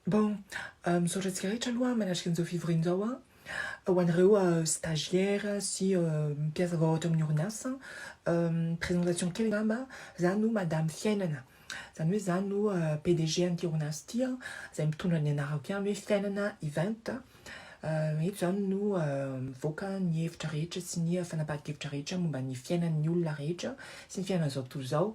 Bon, misaotra antsika rehetra aloha manatrika an'izao fivoriana izao an, ho anareo stagiaire sy mpiasa vao ato amin'ny orinasa, présentation kely angamba, za no madame Fiainana, zany hoe za no PDG an'ity orinasa ity an, zay mitondra ny anarako ihany hoe Fiainana Event. Eto izany no mivoaka ny hevitra rehetra sy ny fanapahan-kevitra rehetra momba ny fiainan'ny olona rehetra sy ny fiainan'izao tontolo izao.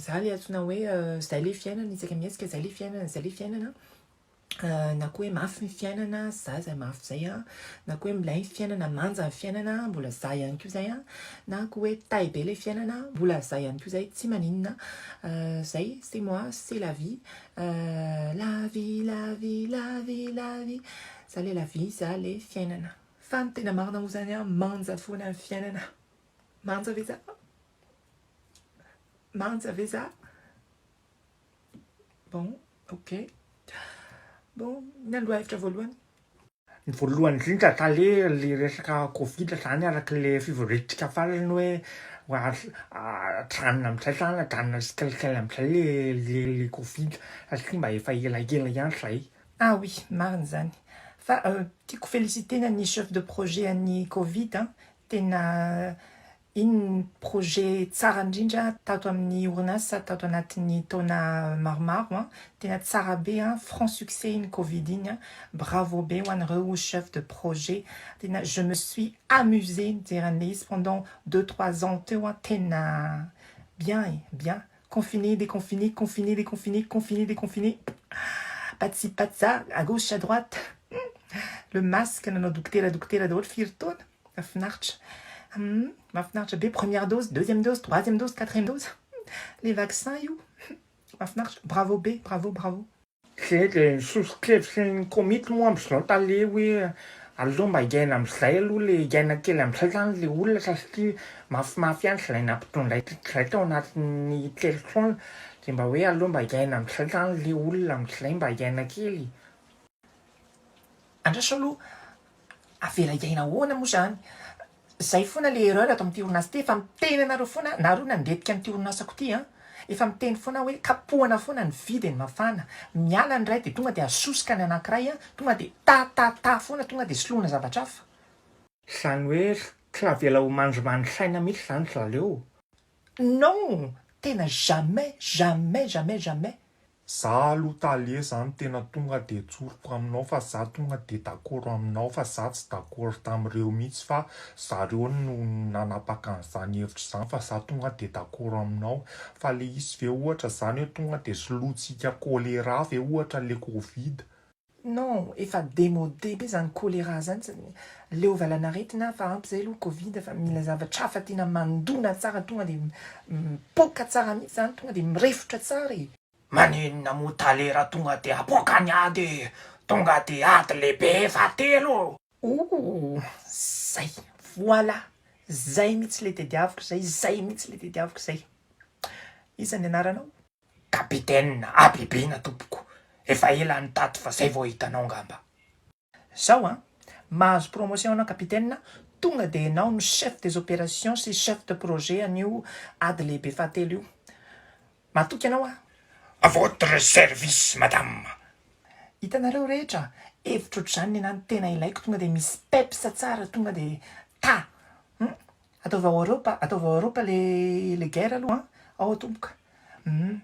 Izaho ilay antsoina hoe izay ilay fiainana, isaka mihetsika izay ilay fiainana, izay ilay fiainana na koa hoe mafy ny fiainana, za izay mafy izay an, na koa hoe milay ny fiainana, manja ny fiainana, mbola za ihany koa izay an, na koa hoe tay be ilay fiainana, mbola za ihany koa izay, tsy maninona, izay c'est moi, c'est la vie, Euh la vie la vie la vie la vie za le la vie za le fiainana fa ny tena marina moa zany an manja foana ny fiainana manja ve za manja ve za bon ok bon ny andro hevitra voalohany Ny voalohany indrindra tale le resaka covid zany araky le fivoriantsika farany hoe ajanona amizay zany ajanona tsikelikely amizay le le le covid satria mba efa elaela ihany zay. Ah oui, marina izany. Fa tiako feliciter-na ny chef de projet an'ny covid an, tena Iny ny projet tsara indrindra tato amin'ny orinasa tato anatin'ny taona maromaro an! Tena tsara be an! Franc succès iny covid iny an! Bravo be ho anareo chef de projet! Tena je me suis amusée nijery an'ilay izy pendant deux trois ans teo an! Tena bien e! Bien! Confiné, déconfiné, confiné, déconfiné, confiné, déconfiné, patsy patsa, à gauche à droite, le masque nanao dokotera dokotera daholo firy taona! Mafinaritra humm mafinaritra be première dose deuxième dose troisième dose quatrième dose le vaccin io mafinaritra bravo be bravo bravo. Zay le sosokevitry ny komity moa amzao tale hoe aleo mba hiaina amzay aloha le hiaina kely amzay zany le olona satria mafimafy ihany zay nampitondray zay tao anatin'ny telo taona de mba hoe aleo mba hiaina amzay zany le olona amzay mba hiaina kely e. Andraso aloha, avela hiaina ahoana moa izany? Izay foana ilay erreur ato amin'ity orinasa ity, efa miteny anareo foana, nareo nandetika an'ity orinasako ity an! Efa miteny foana aho hoe kapohana foana ny vy dia ny mafana, miala ny iray dia tonga dia asosoka ny anankiray an! Tonga dia ta ta ta foana, tonga dia soloina zavatra hafa. Izany hoe tsy avela ho mandrimandry saina mihitsy izany ry zaleo. Non! Tena jamais, jamais, jamais, jamais Za aloha tale zany tena tonga de tsoriko aminao fa za tonga de dakoro aminao fa za tsy dakoro tamireo mitsy fa zareo no nanapaka anzany hevitra zany fa za tonga de dakoro aminao fa le izy ve ohatra zany hoe tonga de solointsika choléra ve ohatra le covid Non, efa demode be zany choléra zany, leo valanaretina hafa ampy zay aloha covid fa mila zavatra hafa tiana mandona tsara tonga dia mipoaka tsara mihitsy zany tonga dia mirefotra tsara e. Maninona moa talera tonga dia apoaka ny ady e! Tonga dia ady lehibe fahatelo o! Ooh! Zay! Voilà! Zay mihitsy le tediaviko zay, zay mihitsy le tediaviko zay! Iza ny anaranao? Capitaine, Habibina tompoko, efa ela any tato fa zay vao hitanao ngamba. Zao an, mahazo promotion anao Capitaine, tonga dia enao no chef des opérations sy chef de projet an'io ady lehibe fahatelo io. Matoky anao aho. A votre service madame. Hitanareo rehetra, hevitra otr'izany ny anah no tena ilaiko tonga dia misy peps tsara tonga dia ta. Hum. Ataovy ao Europa, ataovy ao Europa le le guerre aloha an! Ao tompoko humm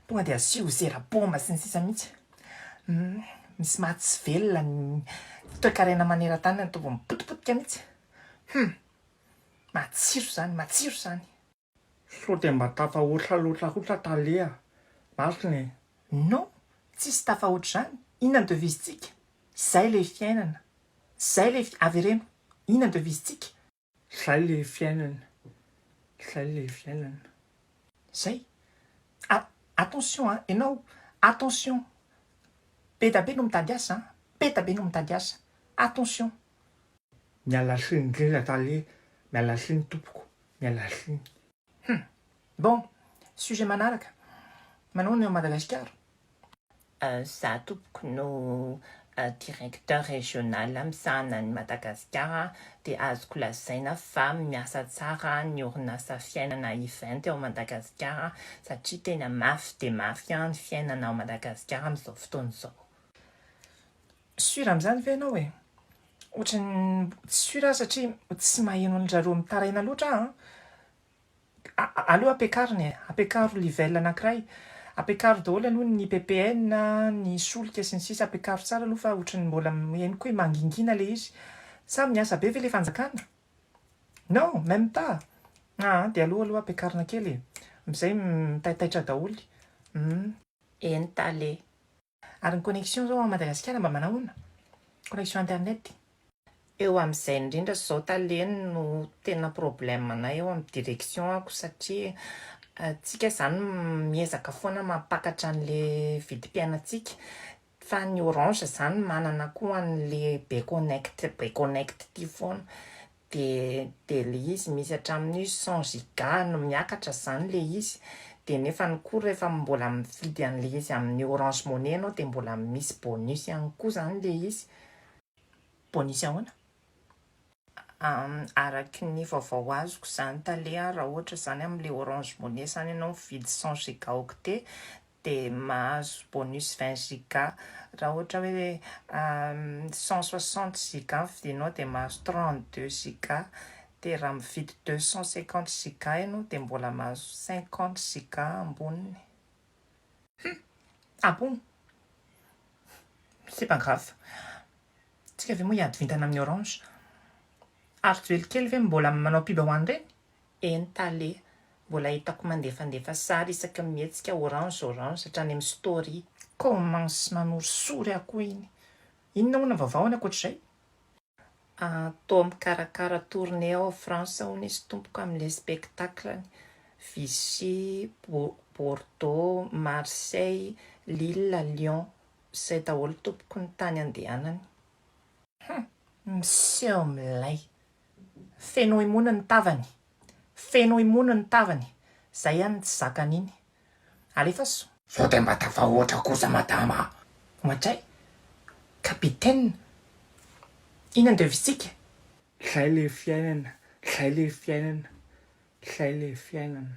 tonga dia asio zera bomba sy ny sisa mihitsy humm misy maha tsy velona ny toekarena maneran-tany ataovy mipotipotika mihitsy humm matsiro zany matsiro zany. Sao dia mba tafahoatra loatra kosa tale a! Marina e! Non! Tsisy tafahoatra izany! Inona ny devisentsika? Izay ilay fiainana! Izay ilay fi-, avereno! Inona ny devisentsika? Izay ilay fiainana! Izay ilay fiainana! Izay! A, attention a! Ianao, attention! Be da be no mitady asa a! Be da be no mitady asa! Attention! Miala siny indrindra tale miala siny tompoko miala siny. Hum. Bon, sujet manaraka, manao ny ao Madagasikara? Za tompoko no directeur régional misahana an'i Madagasikara dia azoko lazaina fa miasa tsara ny orinasa fiainana event ao Madagasikara satria tena mafy dia mafy ny fiainana ao Madagasikara amin'izao fotoana izao. Sur amin'izany ve ianao e? Ohatran'ny tsy sur aho satria tsy maheno an-dry zareo mitaraina loatra aho an! aleo ampiakarina e! ampiakaro level anankiray, ampiakaro daholo aloha ny ppn a, ny solika sy ny sisa ampiakaro tsara aloha fa ohatran'ny mbola henoko hoe mangingina ilay izy. Sa miasa be ve ilay fanjakana? Non! Même pas! aa dia aleo aloha ampiakarina kely e! amzay mitaitaitra daholo! humm. Eny tale. Ary ny connexion zao ao Madagasikara mba manao ahoana? Connexion internet. Eo amin'izay indrindra izao tale no tena problème anay eo amin'ny direction ako satria tsika izany miezaka foana mampakatra an'le vidim-piainantsika fa ny orange izany manana koa an'le be connect be connect ity foana dia dia le izy misy hatramin'io cent giga no miakatra zany le izy dia nefany koa rehefa mbola mividy anle izy amin'ny orange money ianao dia mbola misy bonus ihany koa zany le izy, bonus ahoana? araky ny vaovao azoko zany tale raha ohatra zany amle orange money zany ianao mividy cent giga octet dia mahazo bonus vingt giga, raha ohatra hoe cent soixante giga no vidinao dia mahazo trente deux giga, dia raha mividy deux cent cinquante giga ianao dia mbola mahazo cinquante giga amboniny. Hum! Ah bon! C'est pas grave. Tsika ve moa hiady vintana amin'ny orange? Ary joelikeely ve mbola manao pub ho an'ireny? Eny Tale, mbola hitako mandefandefa sary isaky ny mihetsika orange orange hatrany amin'ny story. Commence manorisory aho koa iny. Inona hono ny vaovao any ankoatr'izay? Ah toa mikarakara tournée ao France hono izy tompoko amin'ilay spectacle-ny. Vichy, Bordeaux, Marseille, Lille, Lyon. Izay daholo tompoko ny tany andehanany. Hum! Miseho milay! Feno emony ny tavany. Feno emony ny tavany. Zay ihany ny tsy zakany iny. Alefaso. Sao dia mba tafahoatra kosa madama a! Ohatray capitaine iny andevisika. Zay le fiainana, zay le fiainana, zay le fiainana.